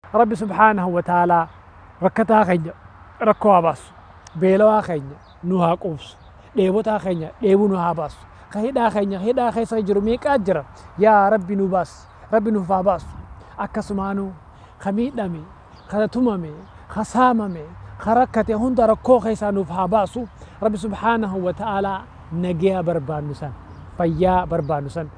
Rabbi subhaanahu wa ta'aalaa rakkataa keenya rakkoo haa baasu, beelawaa keenya nuu haa quubsu, dheebotaa keenya dheebuu nuu haa baasu, ka hidhaa keenya hidhaa keessa jiru meeqaa jira yaa Rabbi nuu baasi, Rabbi nuuf haa baasu. Akkasumaanuu ka miidhame, ka tumame, ka saamame, ka rakkate hunda rakkoo keessaa nuuf haa baasu. Rabbi subhaanahu wa ta'aalaa nageya barbaannu san, fayyaa barbaannu san,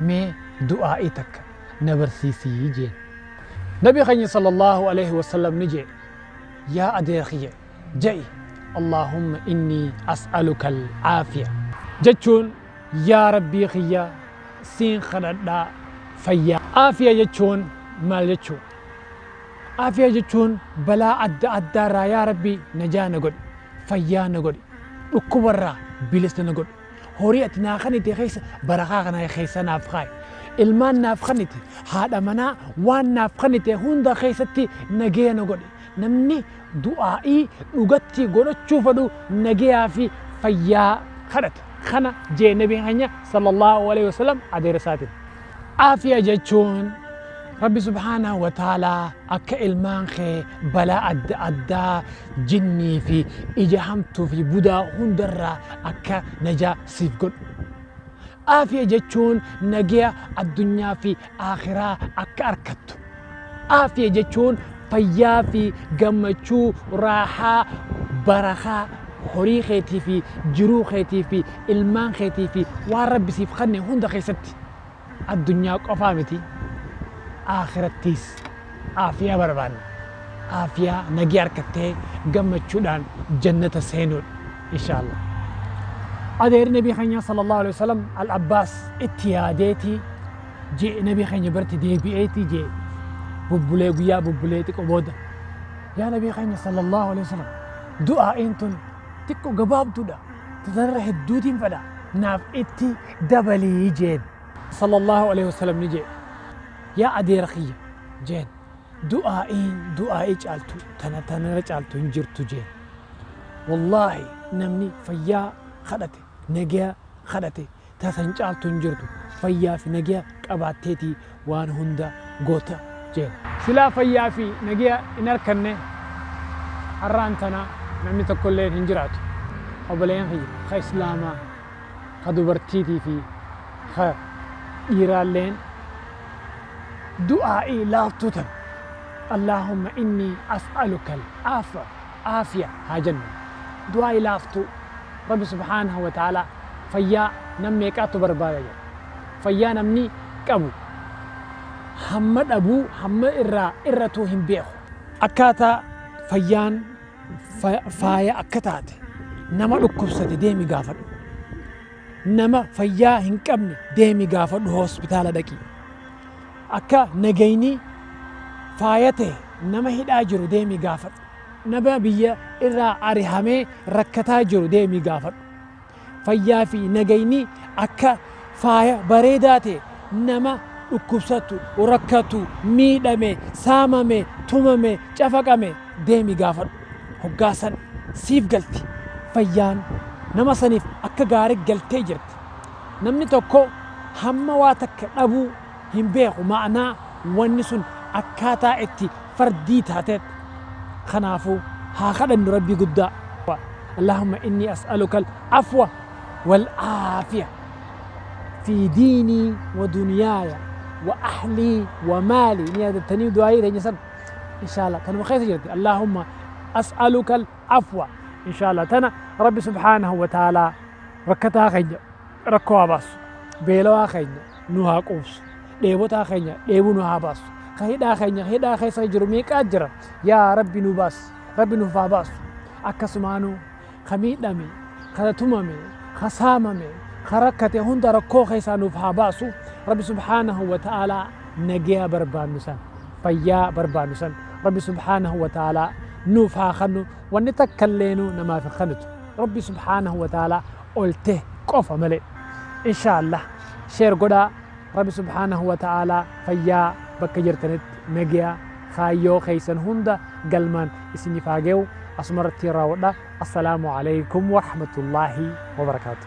mee du'aa'ii takka na barsiisi jeen. Nabi keenya sallallahu aleyhi wasallam ni jee, yaa adeera kiyya ja'i Allaahumma innii as'alukal aafiya. Jechuun yaa Rabbii kiyya siin kadhadha fayyaa. Aafiya jechuun maal jechuudha? Aafiya jechuun balaa adda addaarraa yaa Rabbii najaa na godhi, fayyaa na godhi, dhukkubarraa bilisa na godhi. Horii ati naa kanite keessa barakaa kana keessa naaf kaa'i. Ilmaan naaf kanite, haadha manaa waan naaf kanite hunda keessatti nageya na godhi. Namni du'aa'ii dhugatti godhachuu fedhu nageyaa fi fayyaa kadhata. Kana jee Nabiin keenya Sallallaahu aleyhi wa sallam adeera isaatiin. Aafiya jechuun Rabbi subhaanahu wa ta'aalaa akka ilmaan kee balaa adda addaa jinnii fi ija hamtuu fi budaa hundarraa akka najaa siif godhu. Aafiya jechuun nageya addunyaa fi aakhiraa akka arkattu. Aafiya jechuun fayyaa fi gammachuu, raahaa, barakaa, horii keetii fi jiruu keetii fi ilmaan keetii fi waan Rabbi siif kanne hunda keessatti addunyaa qofaa miti aakhirattiis aafiyaa barbaanna. Aafiyaa nagee arkattee gammachuudhaan jannata seenuudha. Inshaallah. Adeeri Nabii keenyaa Sallallahu Aleyhi Wasallam Al-Abbaas itti yaadeeti jee nabii keenya biratti deebi'eetii jee bubbulee guyyaa bubbulee xiqqo booda yaa nabii keenya sallallahu alaihi wasallam du'aa'iin tun xiqqo gabaabduudha tanarra hedduutiin fedha naaf itti dabalii jeen sallallahu alaihi wasallam ni jee yaa adeera kiyya jeen du'aa'iin du'aa'ii caaltu tana tanarra caaltu hin jirtu jeen wallaahi namni fayyaa kadhate nagaya kadhate ta san caaltu hin jirtu, fayyaa fi nageya qabaatteeti waan hunda goota jeen. Silaa fayyaa fi nageya hin arkanne har'aan tana namni tokkolleen hin jiraatu. Oboleeyyan kiyya ka Islaamaa, ka dubartiitii fi ka dhiiraalleen du'aa'ii laaftuu tana, Allaahumma innii as'alukal aafwa Aafiya haa jennu. Du'aayi laaftuu. Rabbi subhaanahu wa ta'aalaa fayyaa nam meeqaattu barbaada jedha. Fayyaa namni qabu hamma dhabu hamma irraa irratu hin beeku. Akkaataa fayyaan faaya akka taate nama dhukkubsate deemi gaafadhu. Nama fayyaa hin qabne deemi gaafadhu hospitaala dhaqi. Akka nagayni faaya ta'e nama hidhaa jiru deemi gaafadhu. Nama biyya irraa arihamee rakkataa jiru deemii gaafadhu. Fayyaa fi nagayni akka faaya bareedaa ta'e nama dhukkubsatu, rakkatu, miidhame, saamame, tumame, cafaqame deemii gaafadhu. Hoggaa san siif galti. Fayyaan nama saniif akka gaarii galtee jirti. Namni tokko hamma waa takka dhabuu. hin beeku ma'anaa wanni sun akkaataa itti fardii taateet kanaafuu haa kadhannu rabbii guddaa Allaahumma innii as'alukal afwa wal aafiya fi diinii wa duniyaaya wa ahlii wa maalii ni yaadattanii du'aayii teenya san inshaalla tanuma keessa jirti Allaahumma as'alukal afwa inshaalla tana rabbi subhaanahu wa ta'aalaa rakkataa keenya rakkoo haa baassu. Beelawaa keenya nu haa quubsu. Dheebotaa keenya dheebuu nu haa baassu. Ka hidhaa keenya hidhaa keessa jiru meeqaa jira. Yaa Rabbi nu baassi. Rabbi nuuf haa baassu. Akkasumaanuu ka miidhame, ka tumame, ka saamame, ka rakkate hunda rakkoo keessaa nuuf haa baassu. Rabbi subhaanahu wa ta'aalaa nageya barbaannu san, fayyaa barbaannu san Rabbi subhaanahu wa ta'aalaa nuuf haa kannu. Wanni takkalleenu namaaf hin kanitu. Rabbi subhaanahu wa ta'aalaa olte qofa malee inshallah share godhaa rabi subhanahu wa ta'ala fayyaa bakka jirtanitti nagya kaayyoo keessan hunda galmaan isinif haa ge'u asumarratti raawwadha assalaamu alaykum warahmatullahi wabarakaatu